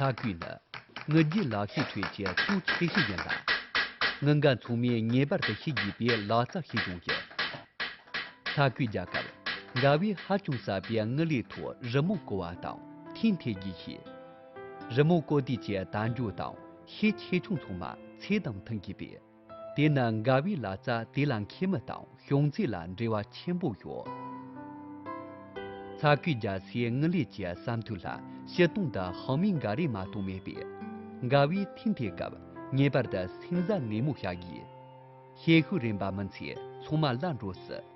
ཚ་ཁུལ་ནི་ངུ་རྒྱུའི་ལག་ཤེས་ཁྲོད་ཀྱི་མཐོང་ཆེ་ཤོས་ཡིན་ལ། ངུ་འགའ་མཚུངས་མེད་ངེས་པར་དུ་ཤེས་དགོས་པའི་ལག་རྩལ་ཞིག་ཀྱང་ཡིན། ཚ་ཁུལ་རྒྱལ་ཁབ་འགའ་བས་ཧ་ཅང་ཟབ་པའི་ངུ་ལེའི་ཐོག་རི་མོ་བརྐོ་བ་དང་ཐིག་འཐེན་རྒྱུ་ཞིག། རི་མོ་བརྐོ་དུས་ཀྱི་དལ་འབྱོར་དང་ཤས་ཆེ་ཆུང་ཚང་མ་ཚད་དང་མཐུན་དགོས་པས། དེས་ན་དགའ་བའི་ལ་རྩ་དེ་ལ་མཁལ་མ་དང་ཤོང་ཚད་ལ་འབྲེལ་བ་ཆེན་པོ་ཡོད། ཚ་ཁུལ་རྒྱ་སེའི་དངུལ་ལས་ཀྱི་བསམ་ཐོན་ལ་ཕྱི་སྟོང་དུ་ཧྭ་མིང་འགའ་རེ་མ་གཏོགས་མེད་པས། དགའ་བའི་ཐིན་དེ་སྐབས་ངེས་པར་དུ་སེང་བཟའ་ནན་མོ་བྱ་དགོས། ཤེད་ཤུགས་རན་པ་མིན་ཚེ་ཚོང་མ་སླ་འགྲོ་སྲིད།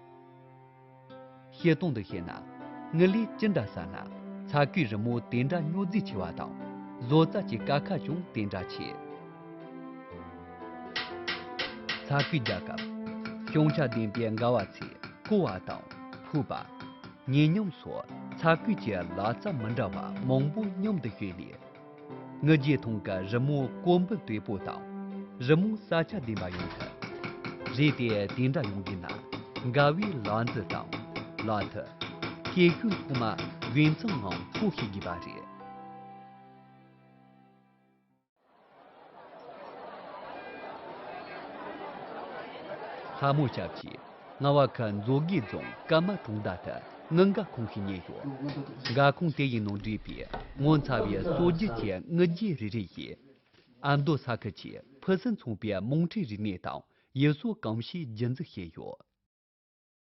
བཤད་སྟངས་འདི་ཤེས་ན། ངུ་ལས་ཅི་འདྲ་ཟ་ན། ཚ་གུས་རི་མོ་དེ་འདྲ་སྨྱོ་རྫིས་ཆེ་བ་དང། བཟོ་རྩལ་གྱི་དཀའ་ཁག་ཀྱང་དེ་འདྲ་ཆེ། ཚ་གུས་རྒྱག་སྐབས། ཤོང་བྱ་ལྡན་པའི་འགའ་བ་ཚོས་རྐོ་བ་དང། ཕུད་པ། ཉེ་སྙོམས་སོགས་ཚ་གུས་ཀྱི་ལག་རྩལ་མི་འདྲ་བ་མང་པོ་མཉམ་དུ་སྤྱོད་ནས། ངུ་རྒྱའི་ཐང་ག་རི་མོ་ཀོ་འབུད་དོད་པོ་དང་རི་མོ་ས་ཆ་ལྡན་པ་ཡོང་ཐུབ། རེད་དེ་དེ་འདྲ་ཡོང་གི་ན་དགའ་བའི་ལག་འཛུལ་དང་ལག་མཐིལ། སྐད་སྐྱོན་ཐོག་མ་དགེ་མཚན་ངང་ཕོག་ཤེས་དགོས་པ་རེད། ལྷ་མོ་ཞབས་ཀྱིས་རྔ་བ་ཁ་མཛོ་དགེ་རྫོང་སྐར་མ་གྲོང་རྡལ་དུ་དངུལ་འགག་ཁུངས་ཤིག་རྙེད་ཡོད། འགག་ཁུངས་དེ་ཡི་ནང་འདྲེས་པའི་ངོ་མཚར་བའི་སྲོལ་རྒྱུན་གྱི་དངུལ་རྗེས་རེ་རེ་ཡིས་ཨ་མདོ་ས་ཁུལ་གྱི་ཕུན་སུམ་ཚོགས་པའི་རྨོངས་ཁྲིད་རིག་གནས་དང་ཡུལ་སྲོལ་གང་ཞིག་རྒྱུན་འཛིན་བྱས་ཡོད།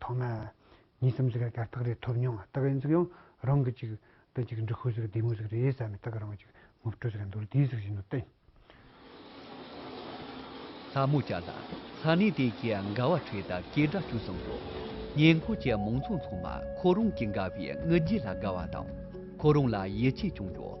ཐོག་མ་གཉིས་སམ་གཅིག་ལ་དར་ཐག་རེ་ཐོབ་མྱོང་བ་དག་ཡིན་ཚིག་ཡང་རང་གི་ཅིག་དང་ཅིག་འབྲི་ཁུལ་ཟེར་བདེ་མོ་ཟེར་རེད་བསམ་མི་དག་རང་ཅིག་ངོ་སྤྲོད་ཟེར་མདོར་བསྡུས་ཟེར་བཞིན་ནོ་སྟེ། ལྷ་མོ་བྱ་ལ། ས་གནས་དེ་གའི་འགལ་བ་འཕྲོས་སྟབས་སྐད་སྒྲ་ཅུང་ཟད་འགྲོ། ཉེ་འཁོར་གྱི་མང་ཚོགས་ཚང་མ་ཁོ་རང་གི་འགལ་བའི་དངུལ་རྗེས་ལ་དགའ་བ་དང། ཁོ་རང་ལ་ཡིད་ཆེས་ཀྱང་ཡོད།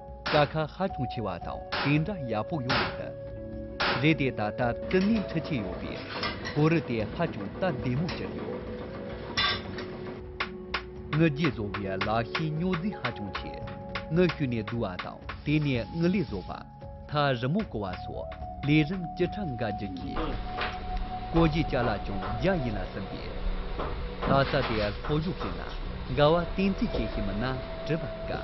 ཀ་ཁ་ཧ་ཅུང་ཆེ་བ་དང་དེ་འདྲ་ཡག་པོ་ཡོང་མི་སྲིད། རེད་དེ་ད་ལྟ་ཀྲི་ནི་འཕྲི་ཆེ་ཡོད་པའི་གོ་རུ་དེ་ཧ་ཅུང་སྟབས་བདེ་མོ་གྱུར་ཡོད། དངུལ་རྒྱས་བཟོ་བའི་ལག་ཤེས་རྙོག་འཛིང་ཧ་ཅུང་ཆེ། དངུལ་བཤུས་ནས་བསྡུ་བ་དང་དེ་ནས་དངུལ་ལས་བཟོ་བ། ཐག་རིང་མོ་བཀོལ་བ་སོགས་ལས་རིམ་ཅི་ཕྲ་འགའ་བགྱིད་ཀྱི་ཡོད། བཀོལ་བཞིན་བཅར་ལ་ཅུང་རྒྱ་ཡིན་ལ་ཟིན་པས། ལྷ་ས་དེ་ལྷོ་གཞུག་ཞིག་ན་འགལ་བ་གཏན་ཚིགས་ཅན་ཞིག་མིན་ན་དྲི་བ་དཀའ།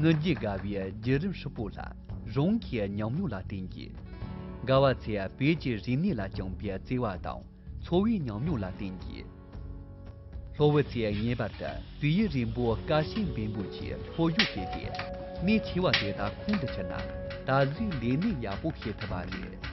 ངུ་འབོད་དགའ་བའི་བརྒྱུད་རིམ་ཧྲིལ་པོ་ལ་རང་གི་ཉམས་མྱོང་ལ་བརྟེན་གྱིས། དགའ་བ་ཚེ་བོད་ཀྱི་རིག་གནས་ལ་བཅངས་པའི་བརྩེ་བ་དང་འཚོ་བའི་ཉམས་མྱོང་ལ་བརྟེན་གྱིས། ལྷོ་བོད་ཚེ་ངེས་པར་དུ་བོད་ཡིག་རིང་པོ་དཀའ་ཞེན་འབེན་པོ་ཆེ་ལྷོ་བཞུགས་ཟེར་ཏེ་གནད་ཆེ་བ་དེ་དག་ཁོང་དུ་ཆུད་ན་ད་གཟོད་ལས་གནས་ཡག་པོ་བྱེད་ཐུབ་པ་རེད།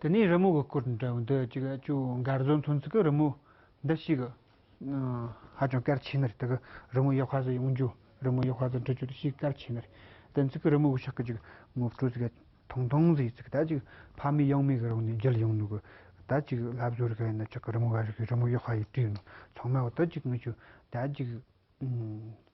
དེ་ནས་རི་མོ་གི་སྐོར་འདྲ་བོ་འདི་གཅིག་ཅུང་མགར་བཟོ་མཚོན་ཚུལ་གྱི་རི་མོ་འདི་ཞིག་ཧ་ཅང་གལ་ཆེ་ནི་རེད་དེ་གི་རི་མོ་ཡག་ཧ་ཟིག་ཡོང་རྒྱུ་རི་མོ་ཡག་ཧ་ཟིག་འབྲི་རྒྱུ་དེ་ཞིག་གལ་ཆེ་ནི་རེད་དེ་ཚིག་གི་རི་མོ་གི་ཕྱག་གི་ཅིག་ངོ་སྤྲོད་ཟིག་ཐུང་ཐུང་ཟིག་ཅིག་ད་ཅིག་ཕ་མའི་གཡང་མའི་གི་རང་ནས་བརྒྱུད་ཡོང་ནི་གི་ད་ཅིག་ལབ་བཟོ་རི་ག་ཡིན་ན་ཅག་གི་རི་མོ་ག་རི་གི་རི་མོ་ཡག་ཧ་ཡིན་བྲིས་ནི་ཚང་མ་གི་ད་ཅིག་ངི་ཆོས་ད་ཅིག།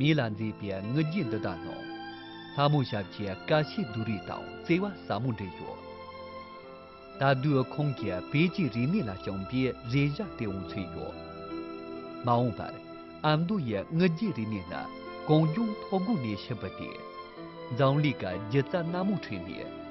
མིག་ལ་མཛེས་པའི་དངུལ་རྒྱན་འདི་དག་ནང། ལྷ་མོ་ཞབས་ཀྱི་དཀའ་བཤེས་བདུད་རིགས་དང་བརྩེ་བ་ཟབ་མོ་འབྲེལ་ཡོད། ད་དུས་ཁོང་གི་བོད་ཀྱི་རིག་གནས་ལ་བྱིན་པའི་རེ་བཞག་སྟེས་འོང་ཚོད་ཡོད། མ་འོངས་པར་ཨ་མདོ་ཡི་དངུལ་རྒྱན་རིག་གནས་ནི་གངས་ལྗོངས་མཐོ་སྒང་ནས་ཕྱི་བུད་དེ། འཛམ་གླིང་གི་སྒྱུ་རྩལ་སྣ་མང་ཁྲོད་ནས།